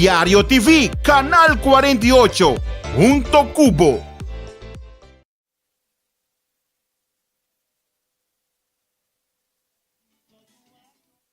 Diario TV, Canal 48, hunto cu bo.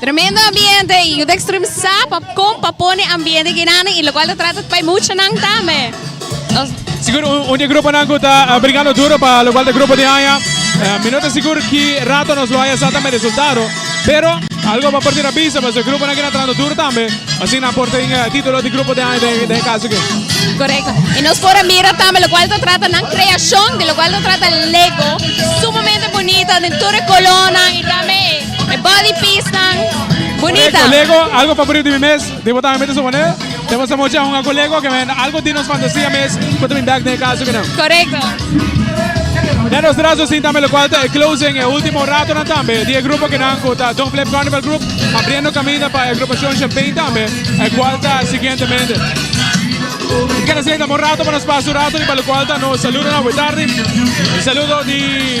Tremendo ambiente y Udextrem sa pa con pa pone ambiente guinana y lo cual ta trata pa e muchanan tambe. Nos. Sigur un, un di e gruponan cu ta uh, brigando duro pa lo cual ta grupo di aña. Uh, mi no ta sigur ki rato nos lo haya sa tambe resultado, pero algo pa por tin a bisa pasobra e gruponan aki ta trahando duro tambe, asina por tin uh, titulo di grupo di aña den, den e caso aki. Correcto. Y nos por a mira tambe lo cual ta trata nan creacion, di lo cual ta trata Lego, sumamente bonito den tur e colornan y tambe E body piecenan bunita. Correcto, Lego, algo favorito di mi mes. Di botan mi te supone. Te bosta mocha un ago Lego que men algo di nos fantasía mes. Cuta mi bag ne caso que no. Correcto. Na nos trazo sin tambe lo cual te e closing e ultimo rato nan tambe di e grupo que nan cuta Don Flip Carnival Group abriendo camino pa e agrupacion Champagne tambe e cual ta siguientemente. Mi kende senta mo rato pa nos pasa un rato riba lo cual ta nos saludo nan buetardi. Un saludo di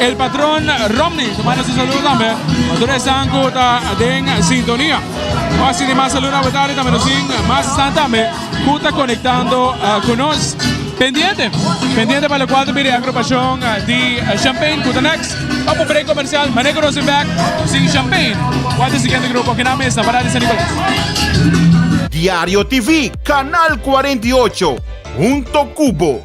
El patron Romney ta manda su saludo tambe pa tur esnan cu ta den sintonia. Pa sinti mas saludonan pa Betania tambe nos tin mas esnan tambe cu ta conectando cu nos. Pendiente, pendiente pa locual ta bira e agrupacion di Champaign cu ta next. Bam un break comercial, manego nos tin back sin Champaign cu ata e siguiente grupo kinan mes na Parada di San Nicolas. Diario TV, Canal cuarenta y ocho, hunto cu bo.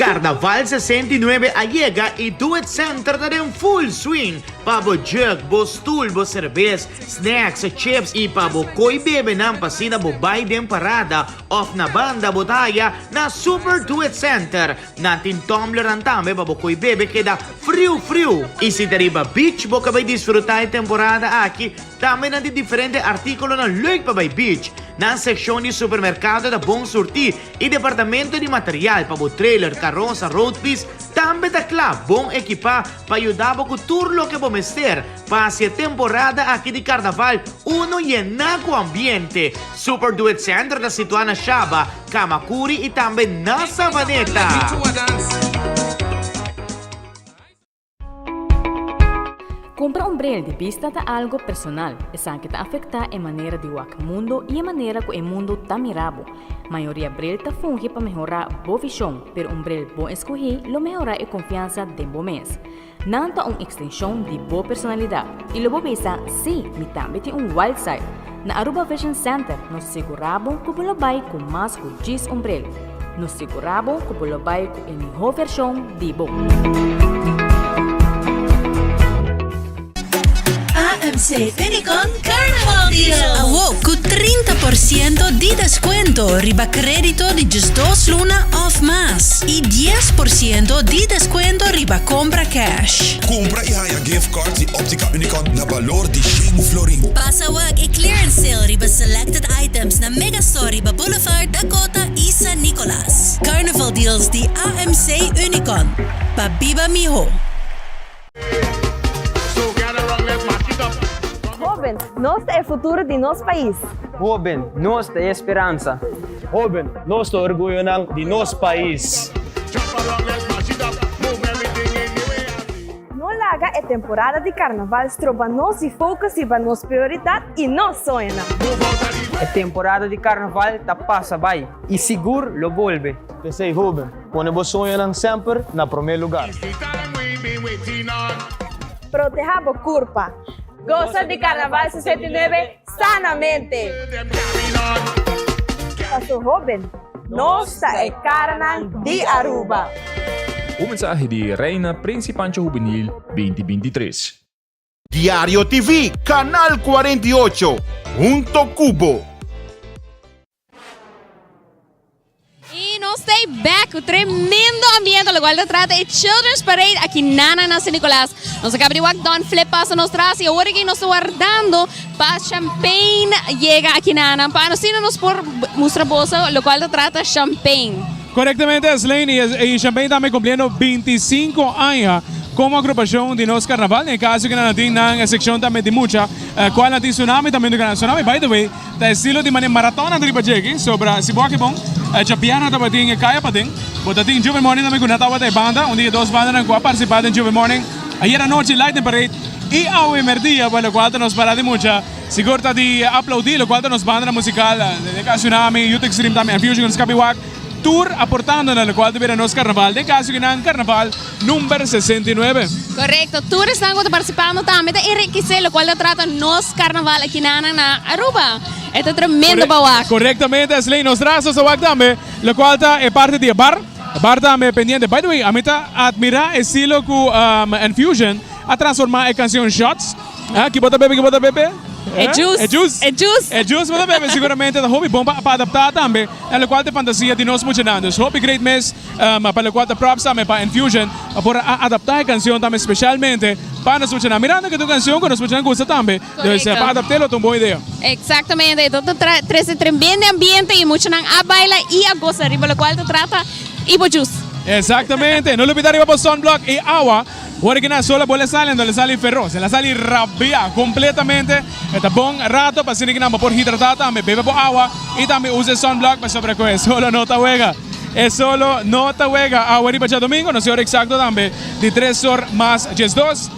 Karnaval sesenta i nuebe a yega i Do It Center ta den full swing pa bo jurk, bo stoel, bo serbes, snacks, chips i pa bo koi bebenan pa asina bo bai den parada òf na banda bo ta haya na Super Do It Center. Nan tin tumblernan tambe pa bo koe bebe keda friu friu. I si ta riba beach bo ka bai disfruta e temporada aki, tambe nan tin diferente artíkulonan leuk pa bai beach. Nan sekshon di supermerkado ta bon surtí i departamento di material pa bo trailer, karosa, road piece tambe ta kla bon ekipá pa yuda bo ku tur loke bo mester pa hasi e temporada aki di karnaval uno yená ku ambiente. Super Duet Center ta situá na Shaba. Kamakuri i tambe na Savaneta. Kumpra un bril di bista ta algu personal. Esaki ta afektá e manera di wak mundu i e manera ku e mundu ta mira bo. Mayoria bril ta fungi pa mehorá bo vishon, pero un bril bon eskuhí lo mehorá e konfiansa den bo mes. Nan ta un ekstenshon di bo personalidat i lo bo bisa, Sí, mi tambe tin un wild side! Na Aruba Vision Center nos segurá bo ku bo lo bai ku mas ku dies ombrel. Nos segurá bo ku bo lo bai ku e mihó vershon di bo. AMC Unicon Carnival Deal. Awo cu trinta por ciento di descuento riba credito di djis dos luna of mas y dies por ciento di descuento riba compra cash. Cumpra y haya gift cards di Optica Unicon na balor di shen florin. Pasa wak e clearance sale riba selected items na Mega Store riba Boulevard, Dakota y San Nicolas. Carnival Deals di AMC Unicon, pa biba miho. Hoben, nos ta e futuro di nos pais. Hoben, nos ta e speransa. Hoben, nos ta orguyonan di nos pais. No laga e temporada di Carnaval stroba nos di focus riba nos prioridad y nos soñonan. E temporada di Carnaval ta pasa bay y sigur lo bolbe. P'esey hoben, Pone bo soñonan semper na promé lugar. Proteha bo kurpa. Gosa di Karnaval sesenta i nuebe sanamente! Paso hoben, nos ta e karanan di Aruba! Un mensahe di Reina Principancho Juvenil binti binti tres. Diario TV, Canal 48, hunto cu bo. Y nos ta back cu tremendo ambiente locual ta trata e Children's Parade aki nana na San Nicolas. Nos a caba di wak Don Flip pasa nos tras y awor aki nos ta wardando. Pa champagne yega aki na nan pa nos sino nos por mustra boso locual ta trata champagne. Correctamente Asleini, y Champagne tambe cumpliendo binti i sinku aña como agrupacion di nos carnaval. Na e caso cu nan a tin nan seccion tambe di mucha, cual na tin Tsunami tambe dun canan. Tsunami by the way ta estilo di mane maraton nan ta riba djeki, so para si bo aki bon cha pierna tabatin e caya paden. Bo ta tin Juve Morning tambe cu nan tabata e banda, un di e dos bandanan cu a participa den Juve Morning. Ayer anochi Lightning Parade y awe merdia pa locual ta nos parada di mucha, sigur ta di aplaudi locual ta nos bandanan musical Deka Tsunami, Youth Extreme tambe and Fusion Escape Walk tur aportando na locual ta bira nos Carnaval den caso di nan Carnaval number sesenta y nuebe. Correcto, tur esnan cu ta participando tambe ta enriquece locual ta trata nos Carnaval aki nanan na Aruba. E ta tremendo pa wak. Correctamente Asley, nos traha so sa wak tambe locual ta e parte di e bar. Bart ta me pendiente. By the way, ami ta admira estilo cu Enfusion a transforma e cancion Shots. Ki bo ta bebe? Ki bo ta bebe? E juice. E juice. E juice bo ta bebe seguramente ta hopi bon pa adapta tambe na locual t'e fantasia di nos muchanan. Dus hopi great mes pa locual ta props tambe pa Enfusion pa por a adapta e cancion tambe specialmente pa nos muchanan. Mirando ke ta un cancion cu nos muchanan gusta tambe. Korekto. Sa pa adapt'é lo ta un bon idea. Eksaktamente. Enton ta tra trese tremende ambiente i muchanan a baila i a gosa riba lokual ta trata i bo jus. Eksaktamente. No lupida riba bo sunblock i awa. Ora ki nan sol a bole a sali, enton el a sali feros. El a sali rabia kompletamente. E ta bon rato pasobra ki nan bo por hidratá tambe. Bebe bo awa i tambe usa e sunblock pasobra ku e solo no ta wega. E solo no ta wega. Awa riba djadomingo nos e ora eksakto tambe di tres or mas diesdos.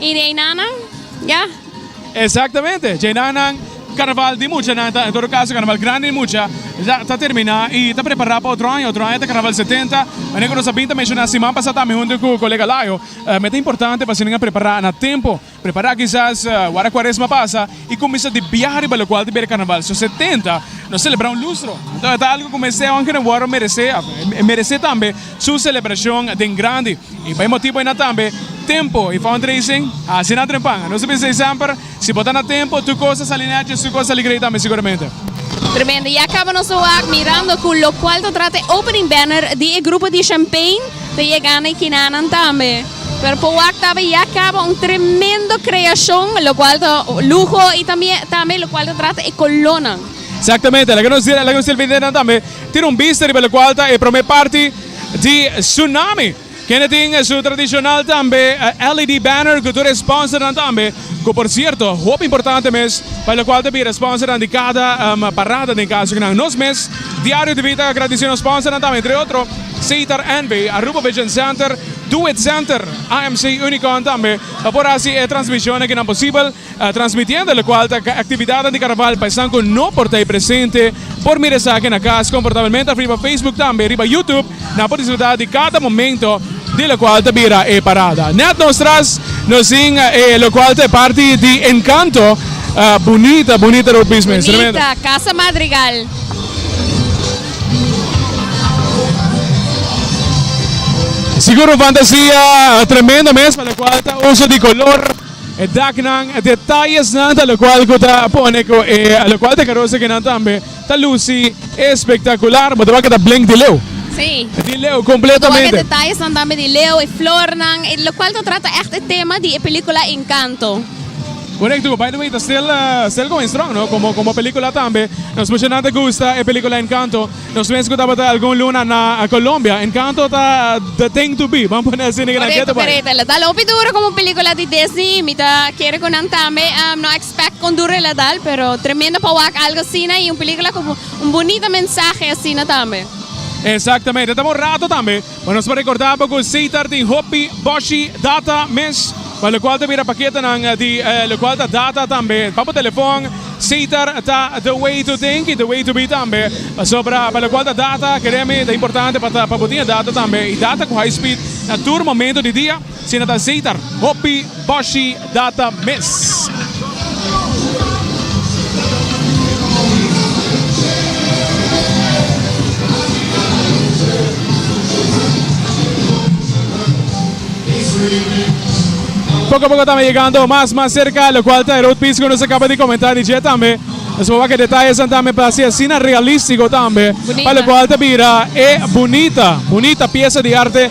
Y de einanan, ya. Exactamente, dje einanan Carnaval di muchanan ta, en todo caso Carnaval grandi di mucha, ya ta termina y ta prepara pa otro aña, otro aña ta Carnaval setenta, manera cu nos a bin ta menciona siman pasa tambe hunto cu colega Layo, me ta importante pa asina prepara na tempo, prepara kisas wara Cuaresma pasa I kuminsá di biaha riba lokual di Berakarnaval so setenta, nos selebrá un lustro. Enton e ta algu ku mester hònke no wòrdu meresé, afe, e meresé tambe su selebrashon den grandi. I pa e motibu einan tambe, tempu i fundraising a hasi nan trempan. Nos a bisa ei semper, si bo ta na tempu, tur kos a sali nèt i e suko a sali grei tambe siguramente. Tremendo. Ya kaba nos ta wak mirando ku lokual ta trata e opening banner di e grupo di Champaign ta yega na e kinanan tambe. Pero por wak tabata ya caba un tremendo creacion lo cual ta lujo y tambe tambe lo cual ta trata e colonnan. Exactamente, laga nos laga nos televidente nan tambe tin un bista riba locual ta e prome parti di Tsunami. Kende tin su tradicional tambe LED banner cu tur e sponsornan tambe, cu por cierto hopi importante mes pa locual ta bira sponsornan di cada parada den caso cu nan nos mes Diario TV ta agradece nos sponsornan tambe entre otro Sitar NV, Aruba Vision Center, Do it center AMC Unicon tambe a por hasi e transmisionnan kinan posibel, transmitiendo locual ta actividadnan di Carnaval pa esnan cu no por ta ei presente por mira esaki na cas confortabelmente af riba Facebook tambe riba YouTube nan por disfruta di cada momento di locual ta bira e parada. Net nos tras nos sin e locual ta e parti di encanto Bunita, bunita Road Business. Tremendo. Bunita, Casa Madrigal. Sigur un fantasia tremendo mes pa lokual ta uso di kolor, e daknan, e detayesnan ta lokual ku ta pone ku e lokual ta karosa kinan tambe ta lusi espektakular. Bo ta wak e ta blink di leu. Sí. Di leu kompletamente. Bo ta wak e detayesnan tambe di leu, e flornan, lokual ta trata ègt e tema di e pelikula Encanto. Korekto, by the way ta stil stil going strong no komo komo pelikula tambe, nos pucha nan ta gusta e pelikula Encanto, nos wens ku tabata algun luna na Colombia, Encanto ta the thing to be, ban pone asina nan Korekto, Getaway. korekto, la dal hopi duro komo pelikula di Disney, mi ta kere ku nan tambe no expect kon duro el la dal, pero tremendo pa wak algo asina i un pelikula ku un bunita mensahe asina tambe. Exactamente, ta bon rato tambe. Bo nos por rekordá bo ku Seitar tin hopi boshi data mes, pa lokual ta bira paketanan di lokual ta data tambe. Pa bo telefòn, Seitar ta the way to think i the way to be tambe. Pasobra pa lokual ta data, kremi, ta importante pa bo tin e data tambe. I data ku high speed na tur momentu di dia. Si no ta zeitar, hopi boshi data mes. Poco a poco ta yegando mas mas cerca lo cual ta e road piece cu nos a caba di comenta di dje tambe nos a wak e detalles nan tambe pa haci asina realistico tambe pa lo cual ta bira e bunita bunita pieza di arte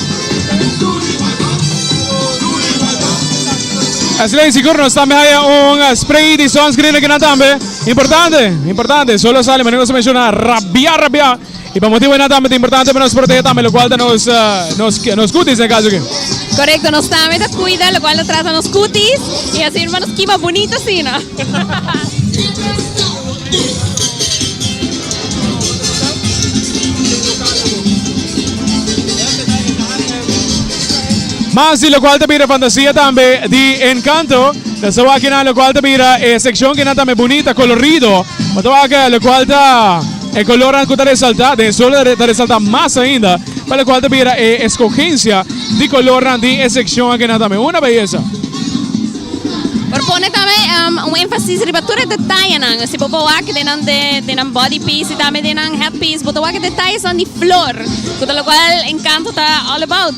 Asina sigur nos tambe haya un spray di sunscreen aquí na tambe. Importante, importante. Solo sale, menos se menciona rabia, rabia. Y pa motivo na tambe importante para nos proteger tambe, lo cual ta nos uh, nos nos cutis en caso que. Correcto, nos tambe ta cuida, lo cual ta trata nos cutis y así hermanos kima bonito sina. Mas di lokual ta bira fantasia tambe di enkanto. Ta sa wak nan lokual ta bira e sekshon kinan tambe bunita, kolorido. Bo ta wak lokual ta e kolornan ku ta resaltá den sol ta resaltá mas ainda. Pa lokual ta bira e eskogensia di kolornan di e sekshon akinan tambe una beyesa. Por pone tambe un énfasis riba tur e detayenan. Si bo ta wak den nan, den nan body piece y tambe den nan head piece, bo ta wak e detallenan di flor, cu ta locual Encanto ta all about.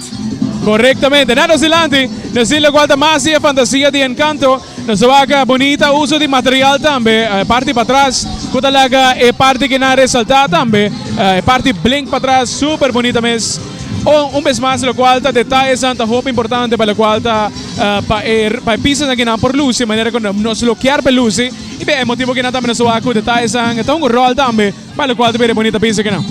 Correctamente. Na nos dilanti, nos tin locual ta mas di e fantasia di Encanto. Nos a wak bunita uso di material tambe, e parti patras, cu ta laga e parti ki nan resalta tambe, e parti blink patras, super bunita mes. Un bes mas locual ta detallenan ta hopi importante pa locual ta. Pa e pisonan ke nan por lusi manera ku nos lo kier pa e lusi i be e motibu ke nan ta amenazá ku detallenan ta un ròl tambe pa lokual ta bira e bonita piso kenan.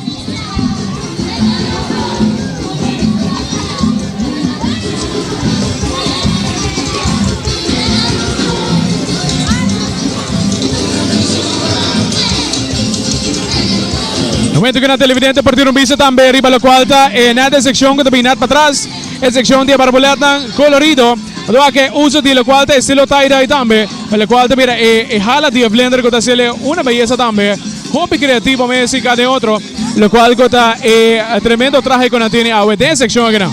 Momentu ku nan televidente por duna un bista tambe riba lokual ta e nèt e sekshon ku ta bin nèt patras. E sekshon di e barbolètnan kolorido lo a ke uso di lokual ta estilo tie-dye tambe, lokual ta bira e hala di e blender ku ta hasel'e una beyesa tambe. Hopi kreativo mes si ka den otro, lokual ku ta e tremendo trahe ku nan tene awe den e sekshon akinan.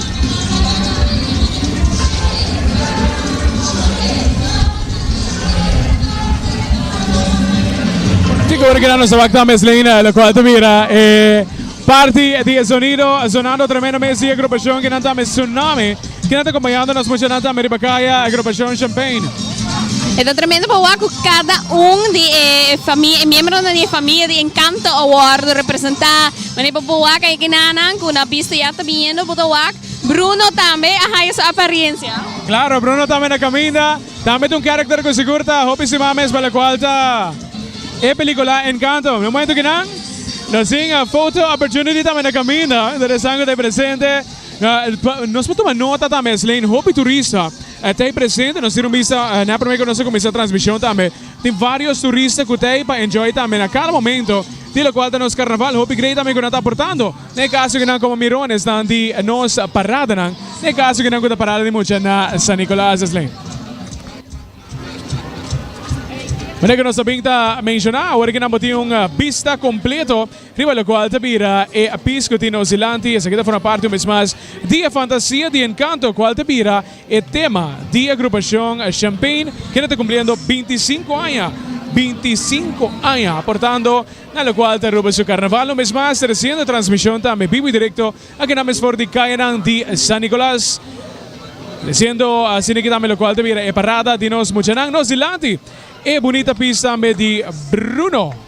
Tic ora kila nos ta wak ta mes Leina lokual ta bira e parti di e sonido sonando tremendo mes di agrupacion kinan ta mi Tsunami kinan ta acompañando nos mucha nan ta mi riba caya agrupacion Champain. E ta tremendo pa wak cu cada un di e fami e miembronan di e famia di Encanto a wordo representa. Mane pa bo wak e genanan ku na bisto ya ta biniendo bo ta wak. Bruno tambe a haya su apariencia. Claro, Bruno tambe na caminda. Tambe ta un character cu sigur ta hopi estima mes pa locual ta e pelicula Encanto. Mi momento kinan ta sin a photo opportunity tambe na caminda. Dor esan cu ta presente. Nos por tuma nota tambe Sleen hopi turista a ta presente. Nos dira un bista na primer cu nos a cuminsa transmision tambe. Tin varios turista cu ta ey pa enjoy tambe na cada momento di locual ta nos carnaval. Hopi grey tambe cu nan ta aportando na e caso di nan como mironesnan di nos paradanan, na e caso di nan cu ta parada di mucha na San Nicolas Island. Manera cu nos ta bin ta menciona, awor cu nan por tin un bista completo riba locual ta bira e pis cu tin nos dilanti, esaki ta forma parti un bes mas di e fantasia, di e encanto cual ta bira. E tema di e grupashon Champain keda ta kumpliendo binti i sinku aña, binti i sinku aña, aportando na lokual ta Aruba su karnaval. Un bes mas tresiendo transmishon tambe bibu i direkto akinan mes for di kayanan di San Nikolas, tresiendo asiniki tambe lokual ta bira e parada di nos muchanan. Nos dilanti. E bunita piece tambe di Bruno.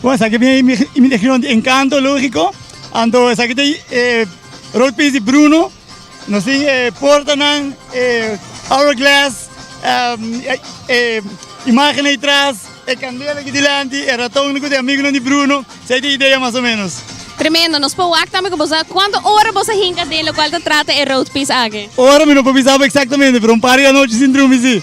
Bon, esaki ta e imitacion di Encanto, logico, anto esaki ta e rood piece di Bruno, nos tin e portanan, e hourglass, e imagennan di tras, e candela aki dilanti, e ratonnan cu ta e amigonan di Bruno, si ai ta e idea mas o menos. Tremendo, nos por wak tambe cu boso a cuanto ora boso a hinca den locual ta trata e rood piece aki? Ora mi no por bisa bo exactamente, pero un par di anochi sin drumi si.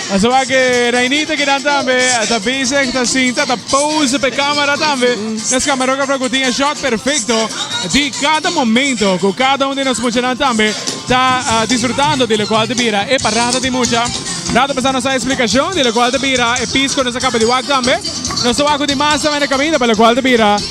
Asaba ke Reinita kinan tambe ta bezig ta sinta ta pose pa e camera tambe. Nos camarografo cu tin e shot perfecto di cada momento cu cada un di nos muchanan tambe ta disfrutando di locual ta bira e parada di mucha. Nan ta pasando nos a explicacion di locual ta bira e piece cu nos a caba di wak tambe. Nos ta wak cu tin mas tambe na caminda pa locual ta bira.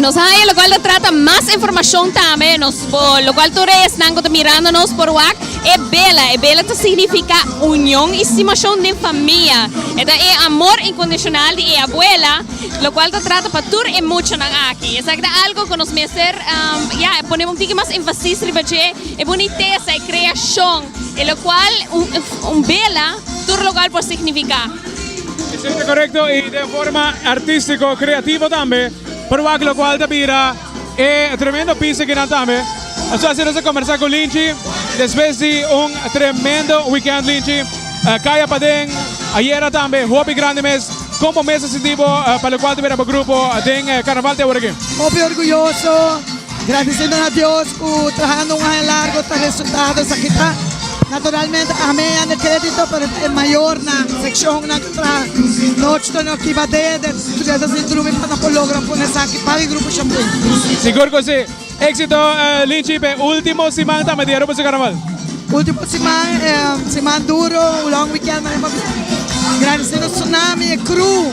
Nos haya lo cual trata más información también nos por lo cual tur esnan que mirando nos por wak e bela e bela te significa unión y estimación de familia eta e amor incondicional de e abuela lo cual te trata pa tur e muchanan aki esaki ta algo que nos mester ya pone un tiki mas énfasis riba dje e bunitesa e creación e lo cual un bela tur lo cual por significa. E sente korekto i den forma artístiko, kreativo tambe, por wak lokual ta bira e tremendo pis akinan tambe. Aso así nos a kombersá ku Lynchy despues di un tremendo wikènt. Lynchy, kaya paden ayera tambe hopi grandi mes, kon bo mes a sinti bo pa lokual ta bira bo grupo den Karnaval te ora aki? Hopi orguyoso. Gradisinan a Dios cu trahando un aña largo ta resultado esaki ta. Naturalmente a me yanda credito pero ta e mayornan, seccionnan cu traha nochi tur no kiba dede Studentes di Drumi pa no por logra pone esaki pa e Grupo Chapin. Sigur cu si. Exito Lynchy p'e ultimo siman tambe di e Rupertse Carnaval. Ultimo siman e siman duro, un long weekend, maneman bien. Gradisinan Tsunami, e crew.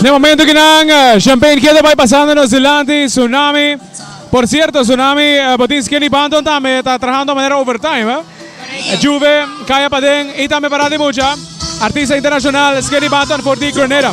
Ne momento ki nan champagne keda bai pasando nos dilanti Tsunami. Por cierto Tsunami bo tin Skinny Banton tambe ta trahando manera overtime. Juve, Kaya Paden y tambe para di mucha artista internacional Skinny Banton for di Grenada.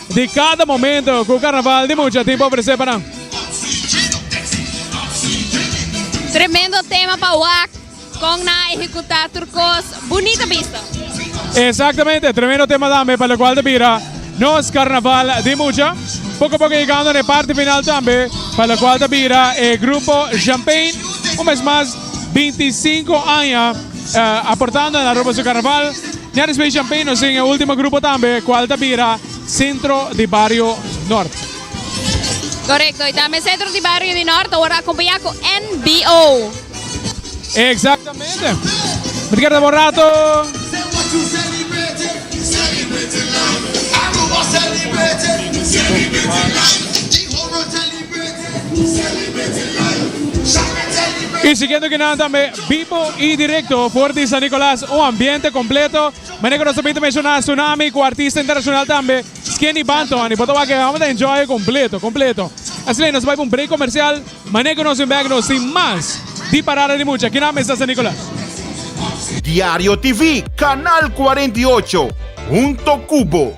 Di cada momento cu Carnaval di mucha tipo ofrece pa nan. Tremendo tema pa wak. Con nan a ehecuta tur cos. Bunita bista. Exactamente, tremendo tema tambe pa locual ta bira nos Carnaval di mucha. Poco poco yegando n'e parti final tambe pa locual ta bira e grupo Champain un mes mas binti sinku aña. Aportando na Aruba su Carnaval, Ñaris Bay Champagne nos tin e ultimo grupo tambe cual ta bira Centro di Barrio Norte. Correcto, y tambe Centro di Barrio di Norte a wor acompaña cu NBO. Exactamente. Mi ta keda bon rato. Y siguiendo ki nan tambe. Bibo y directo for di San Nicolas un ambiente completo manera cu nos a bini menciona Sunami cu artista internacional tambe Skinny Banton y bo ta wak e awor ta enjoy completo completo asina nos a bai pa un break comercial manera cu nos bin bek nos tin mas di parada di mucha kinan mester San Nicolas. Diario TV, Canal cuarenta y ocho, hunto cu bo.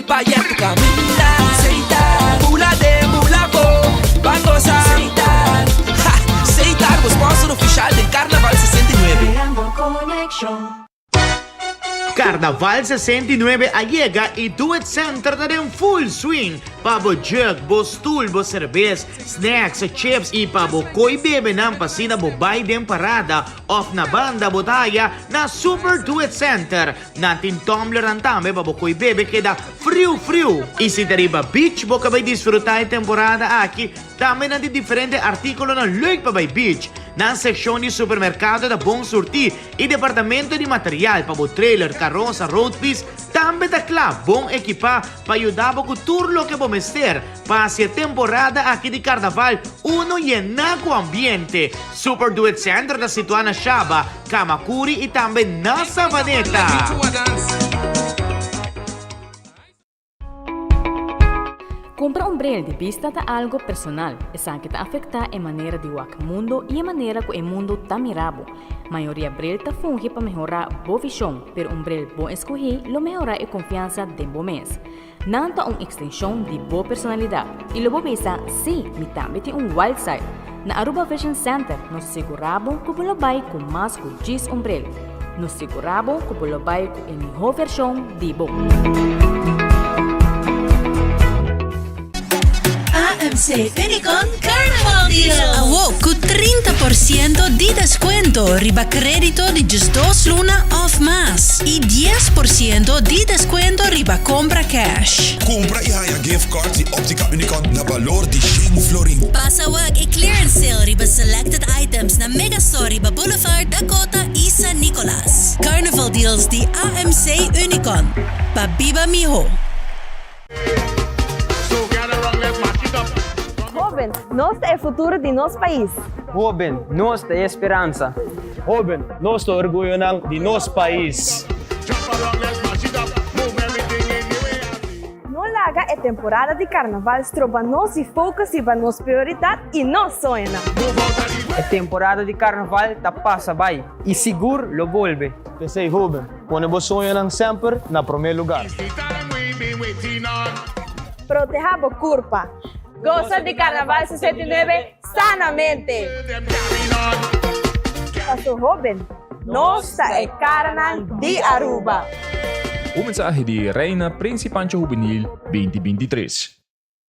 Carnaval sesenta i nuebe a yega y Do It Center ta den full swing pa bo jug, bo stoel, bo cerbes, snacks, chips y pa bo coy bebenan pa asina bo bay den parada of na banda bo ta haya na Super Do It Center. Nan tin tumblernan tambe pa bo koe bebe keda friu friu. I si ta riba beach bo ka bai disfruta e temporada aki, tambe nan tin diferente artíkulonan leuk pa bai beach. Nan sekshon di supermerkado ta bon surtí i departamento di material pa bo trailer, karosa, road fiets tambe ta kla bon ekipá pa yuda bo ku tur loke bo mester pa hasi e temporada aki di karnaval uno yená ku ambiente. Super Duet Center ta situá na Shaba. Kamakuri i tambe na Savaneta. Kumpra un bril di bista ta algu personal. Esaki ta afektá e manera di wak mundu i e manera ku e mundu ta mira bo. Mayoria bril ta fungi pa mehorá bo vishon, pero un bril bon eskuhí lo mehorá e konfiansa den bo mes. Nan ta un ekstenshon di bo personalidat i lo bo bisa, Sí, mi tambe tin un wild side! Na Aruba Vision Center nos segurá bo ku bo lo bai ku mas ku dies ombrel. Nos segurá bo ku bo lo bai ku e mihó vershon di bo. AMC Unicon Carnaval Deal. Awo cu trinta por ciento di descuento riba credito di djis dos luna of mas y dies por ciento di descuento riba compra cash. Compra y haya gift cards di Optica Unicon na balor di shen florin. Pasa wak e clearance sale riba selected items na Mega Store riba Boulevard, Dakota y San Nicolas. Carnaval Deals di AMC Unicon, pa biba miho. Hoben, nos ta e futuro di nos pais. Hoben, nos ta e speransa. Hoben, nos ta orguyonan di nos pais. No laga e temporada di Carnaval stroba nos di focus riba nos prioridad y nos soñonan. E temporada di Carnaval ta pasa bay y sigur lo bolbe. P'esey hoben, Pone bo soñonan semper na promé lugar. Proteha bo kurpa. Gosa di Karnaval sesenta i nuebe sanamente! Paso hoben, nos ta e karanan di Aruba. Un mensahe di Reina Prinsi Pancho Hubenil binti binti tres.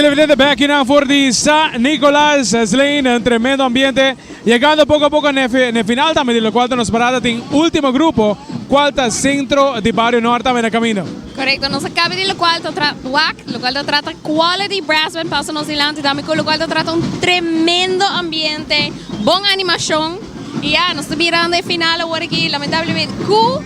Televidente backing na for di Sa Nicolas Sleen en tremendo ambiente. Llegando poco a poco ne ne final tambe di lo cual ta nos parada tin ultimo grupo cual ta Centro di Barrio Norte tambe na camino. Correcto, nos a cabe di lo cual ta tra WAC, lo cual ta trata Quality Brass Band pasa nos dilanti tambe cu lo cual ta trata un tremendo ambiente, bon animacion. Y ya, nos ta birando e final awor aki, lamentablemente, cu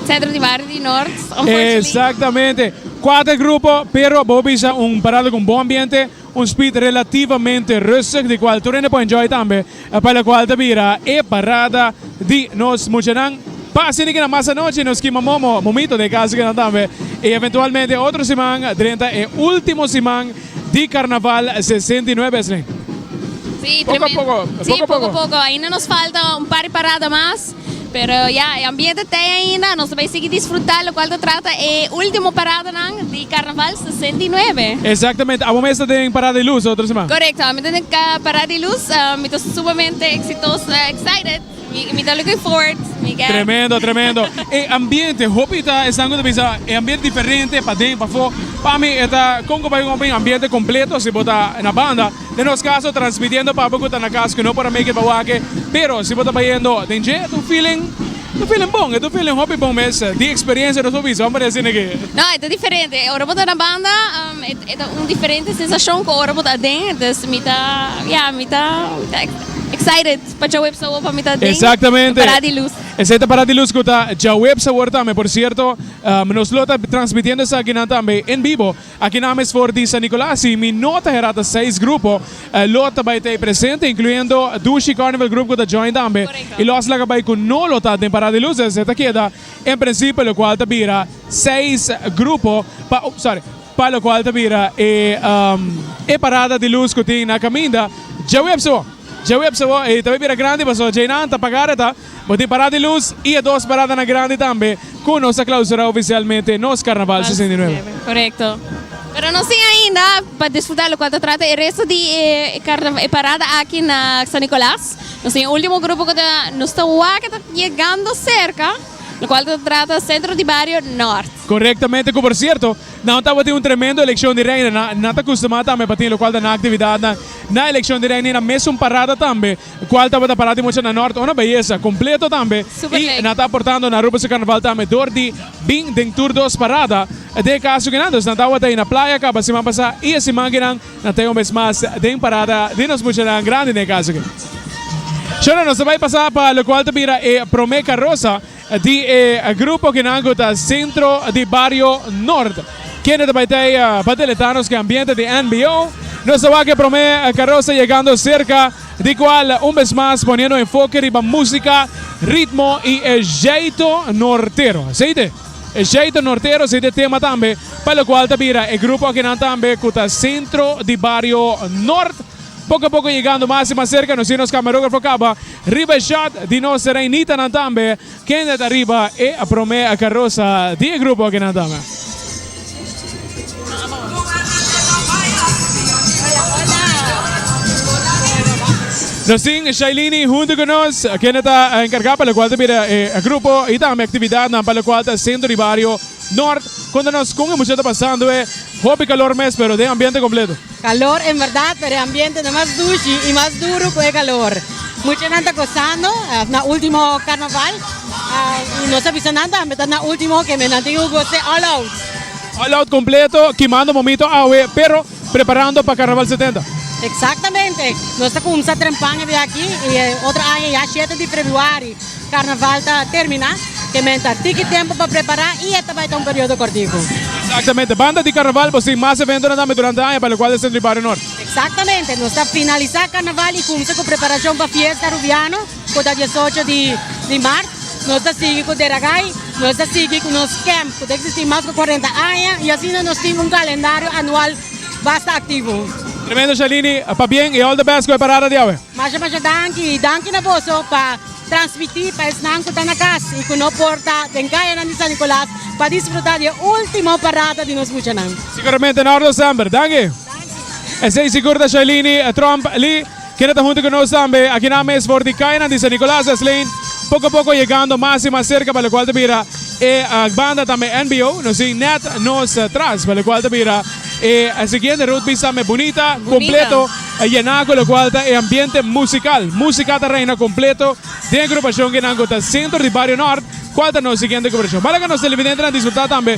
Centro di Barrio di Noord, unfortunately. Exactamente. Cuater grupo, pero bo bisa un parada cu un bon ambiente, un speed relativamente rustig, di cual tur hende por enjoy tambe. E pa la cual ta bira e parada di nos muchanan. Pa sinti kinan mas anochi, nos kima momo, momito den e casa kinan tambe. Y eventualmente otro siman, drenta e ultimo siman, di Carnaval sesenta i nuebe esnan. Sí, tremendo. Poco a poco, poco a poco. Sí, poco a poco. Ainda nos falta un par di parada mas, pero ya, e ambiente t'ei ainda, nos ta bay sigui disfruta locual ta trata e ultimo paradanan di Carnaval sesenta i nuebe. Exactamente, abo mi esta den Parada di Luz otro siman. Correcto, abo mi ta den Parada di Luz, mi ta sumamente exitoso, excited. Mi ta looking forward mi get. Tremendo tremendo e ambiente hopi ta esan ku ta bisa e ambiente diferente paden e pafo pa mi e ta kon ku bai un open ambiente kompleto si bo ta na banda den nos kaso transmitiendo pa bo ku ta na kas ku no por a make it pa wak pero si bo ta bayendo den dje e ta un feeling ta un feeling bon e ta un feeling hopi bon mes di experiencia nos por bisa wan poner asina ke. No e ta diferente ora bo ta na banda e ta un diferente sensashon ku ora bo ta aden entonces mi ta ya mi ta excited. Pa djaweb sabor pa mi ta den Exactamente. Pará di lus. Esei ta pará di lus ku ta djaweb sabor tambe. Por sierto, nos lo ta transmitiendo esakinan tambe en bibo aki nan mes for di San Nicolas. Si mi no ta herá ta seis grupo lo ta bai ta ei presente, incluyendo Dushi Carnival Group ku ta join tambe. I lòs laga bai ku no lo ta den pará di lus. Esei ta keda en principio lokual ta bira seis grupo pa, sorry, pa lokual ta bira e parada di lus ku tin na kaminda djawe ap sobo, djawe ap sobo i ta bai bira grandi paso djainan ta pagá reta. Bo tin parada di lus i e dos paradanan grandi tambe ku nos ta klausurá ofisialmente nos karnaval sesenta i nuebe. Korekto. Pero nos tin ainda pa disfrutá lokual ta trata e resto di e karnaval e parada aki na San Nikolas. Nos tin e último grupo ku ta nos ta wak e ta yegando serka. lo cual ta trata centro di bario Noord. Correctamente, cu por cierto, nan tabatin un tremendo eleccion di Reina, nan, nan ta custuma tambe pa tin locual ta nan actividadnan na eleccion di Reina y nan mes un parada tambe, cual tabata parada di Mochana Noord, una beyesa, completo tambe, y nan ta aportando na Aruba su Carnaval tambe door di bin den tur dos parada, den e caso kinan, dos nan tabata ahi na playa caba siman pasa y e siman kinan Nan ta e homes mas den parada di nos muchanan grandi na e kaso aki. Shona, nos ta bai pasa pa lokual ta bira e promé karosa di e grupo kinan ku ta Sentro di Bario Nort. Kende ta bai t'ei pa deletá nos ku e ambiente di NBO? Nos ta wak e promé karosa yegando serka di kual un bes mas poniendo enfoke riba músika, ritmo i e jeito nortero. Esei t'e. E Jeito Nortero sete tema tambe pa lokual ta bira e grupo akinan tambe ku ta sentro di bario Nort. Poko a poko yegando mas i mas serka, nos tin nos kamarografo kaba riba e shot di nos reinitanan tambe kende ta riba e promé karosa di e grupo akinan tambe. Nos tin Shailene hunto ku nos, kende ta enkargá pa lokual ta bira e grupo i tambe aktividatnan pa lokual ta sentro di bario Nort. Konta nos kon e mucha ta pasando e hopi kalor mes pero den ambiente kompleto. Calor en verdad pero e ambiente ta mas dushi y mas duro cu e calor. Muchanan ta gozando na ultimo carnaval y nos a bisa nan tambe ta na ultimo kende nan tin cu goce all out. All out completo kimando momito awe pero preparando pa carnaval setenta. Exactamente. Nos ta cumsa trempan e di aki y e otro aña ya shete di Februari. Carnaval ta termina, ke men ta tiki tempo pa prepara y e ta bai ta un periodo cortico. Exactamente, banda di Carnaval bo tin mas eventonan tambe durante aña pa lo cual e Centro di Barrio Norte. Exactamente, nos ta finalisa Carnaval y cumsa cu preparacion pa fiesta Rubiano cu ta diesocho di Mart. Nos ta sigui cu Deragai, nos ta sigui cu nos camp cu ta existi mas cu cuarenta aña y asina nos tin un calendario anual basta aktivo. Tremendo Shalini, pabien i all the best ku e parada di awe. Masha masha danki, i danki na boso pa transmiti pa esnan ku ta na kas i ku no por ta den kayanan di San Nicolas pa disfruta di e ultimo parada di nos muchanan. Siguramente Nordo semper. Danki. Esei sigur ta Shalini Tromp Lee. Kende ta huntu ku nos tambe akinan mes for di kayanan di San Nicolas es Lane, poko poko yegando mas i mas serka pa lokual ta bira e banda tambe NBO, nos tin nèt nos tras pa lokual ta bira e siguiente road pista tambe bunita, kompleto a yená ku lokual ta e ambiente musikal. Musika ta reina kompleto den e grupashon kinan ku ta sentro di Bario Nort, kual ta nos siguiente grupashon. Bala ku nos televidentenan disfrutá tambe.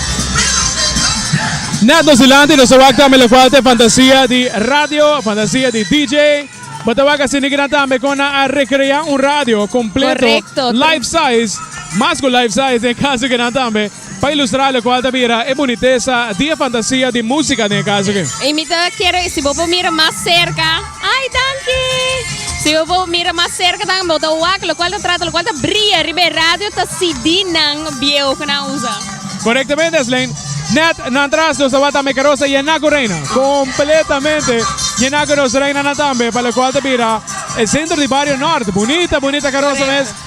Net nos dilanti nos a wak tambe lokwal ta e fantasia di radio, fantasia di DJ. Bo ta wak a sinti kinan tambe kon nan a rekrea un radio kompleto, Korekto, tru. life size, mas ku life size den e kas ake nan tambe, pa ilustrá lokual ta bira e bunitesa di e fantasia di músika den e kas ake. Y mi ta kere si bo por mira mas serka. Ay danki! Si bo por mira mas serka tambe bo ta wak lokual ta trata lokual ta bria riba e radio ta CD-nan bieo ku nan usa. Korektamente Eslein. Nèt nan tras nos tabata Meka Rosa yená ku reina. Kompletamente yená ku nos reinanan tambe pa lokual ta bira e sentro di bario Nòrt. Bunita bunita karosa mes.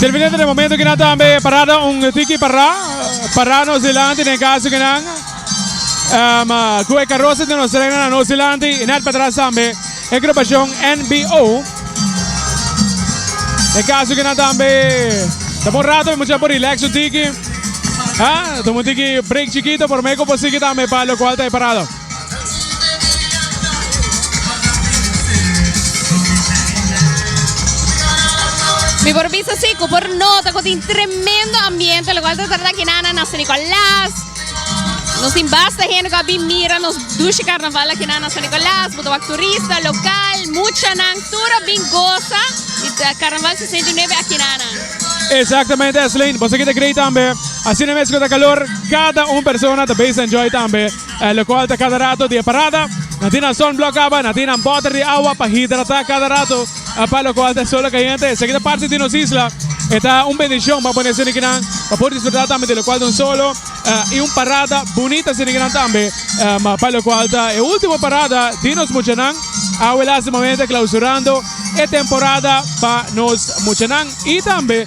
Termina de momento que nada tambe parada un tiki para para nos delante en caso que nan um, cu e carroza de nos reina nos delante y net para atrás tambe e agrupacion NBO. E caso que na tambe ta por rato me mucha por relax un tiki. Ah, tomo un tiki break chiquito por me por sigue tambe para lo cual te parado. Mi por bisa si por nota con tremendo ambiente lo cual te trata que nana na Nicolás. Nos tin basta hende cu a bin mira nos dushi carnaval aki na San Nicolas, bo ta wak turista, local, muchanan, tur a bin goza di carnaval sesenta i nuebe aki na nan. Exactamente Eslein, boso aquí ta grei tambe, asina mes cu ta calor cada un persona ta base enjoy tambe, locual ta cada rato di e parada, nan tin nan sunblock caba, nan tin nan botter di awa pa hidrata cada rato. A palo cual ta solo cayente. Esaki ta parti di nos isla. E ta un bendicion pa pone esenikinan pa por disfruta tambe di locual tan solo. I un parada bunita esenikinan tambe. Pa locual ta e ultimo parada di nos muchanan. Awe lastimamente clausurando e temporada pa nos muchanan. I tambe.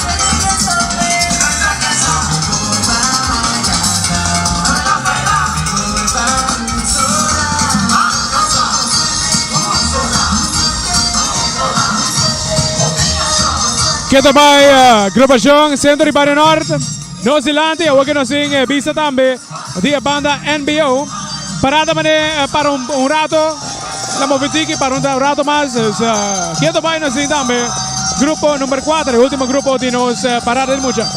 Ke ta bai Grupashon Sentro di Bario Nort nos dilanti. Awor ke nos tin e bista tambe di e banda NBO. Pará ta manera para un rato. La movi tiki pa un rato mas. Kieto bai nos tin tambe grupo number kuater, e ultimo grupo di nos parada di mucha.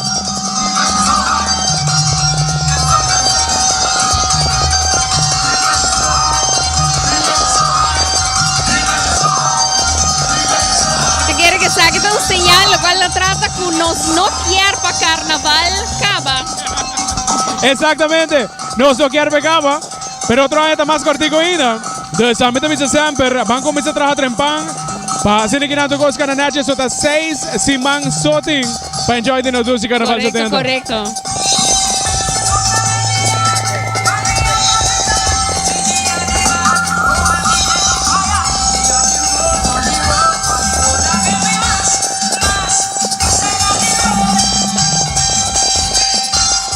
Exactamente nos no kier pa kaba. Pero otro aña ta mas kortiku ainda. Dus ami ta bisa semper, Ban kuminsá traha trempan pa hasi niki nan tuk Oscar na Natchez so ta seis siman so tin pa enjoy di nos dushi Karnaval Korekto, setenta. korekto.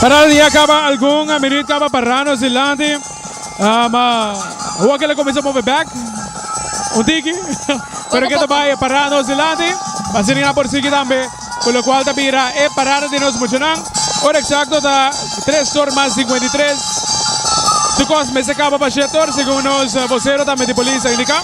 Para di a kaba algun minuut kaba para nos di lanti. Um, uh, Oa kele comienza move back. Un tiki. Pero que te vaya para nos di lanti. Pasini na por sigi tambe. Por lo cual ta bira e parada di nos muchanan. Ora exacto ta 3 horas más 53. Su cos me se acaba pa 7 horas según nos vocero tambe di polis a indica.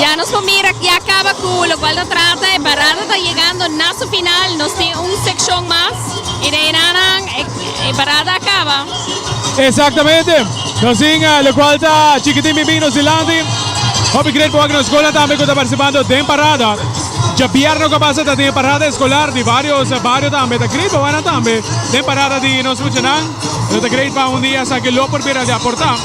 Ya nos por mira aki a caba cu locual ta trata e barata ta yegando na su final nos tin un seccion mas y den enanan e barata a caba. Exactamente nos tin locual ta chikitin binbin nos dilanti hopi grade boak nos schoolnan tambe cu ta participando den parada djabièrnè cu a pasa ta tin e parada escolar di varios bario tambe ta grade boaknan tambe den parada di nos muchanan nos ta grade pa un dia esaki lo por bira di aporta.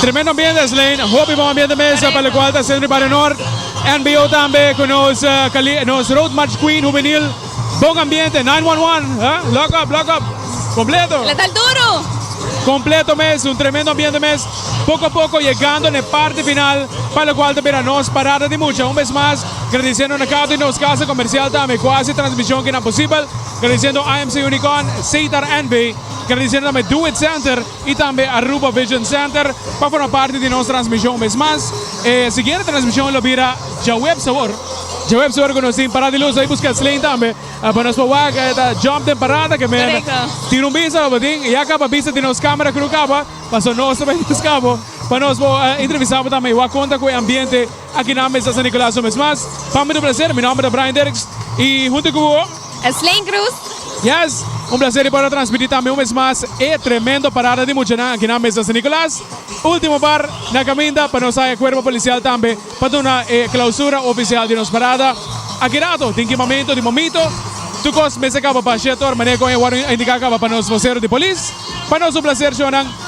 Tremendo ambiente Eslein, hopi bon ambiente mes pa locual ta haciendo di Barrio Nort. NBO tambe cu nos cali, nos Road March Queen Juvenil. Bon ambiente, nine one one, huh? Lock up, lock up. Completo. Lo tal duro. Completo mes, un tremendo ambiente mes. Poco a poco yegando n'e parti final, pa locual ta bira nos parada di mucha. Un bes mas, gradiciendo na cada un di nos casa comercial tambe cu a haci transmision kinan posibel, gradiciendo IMC Unicon, Sitar NV. Gradecerdame Doet Center y tambe Aruba Vision Center pa forma parti di nos transmision mes mas. E siguiente transmision lo bira djaweb sabor. Djaweb sabor cu nos tin parada di luz ey busca Sleen tambe pa nos pa wak e ta jump den parada que men tin un bisa abatin y a caba bisa tin nos camera cu no caba paso nos ta bay buscabo pa nos po entrevistabo tambe y wak conta cu e ambiente aki na mesa San Nicolazo mes mas pami ta un placer mi nomber ta Brian Derks y hunto cu bo. E Sleen Cruz. Yes, un placer di por a transmiti tambe un bes mas e tremendo parada di muchanan aki na Mesa San Nicolas. Ultimo bar na caminda pa nos hae cuerpo policial tambe pa duna e clausura oficial di nos parada. Aki rato tin kimamento di momito. Tur cos mester caba pa Shetor, mané con e warning a indica caba pa nos vocero di polis. Pa nos un placer shonan.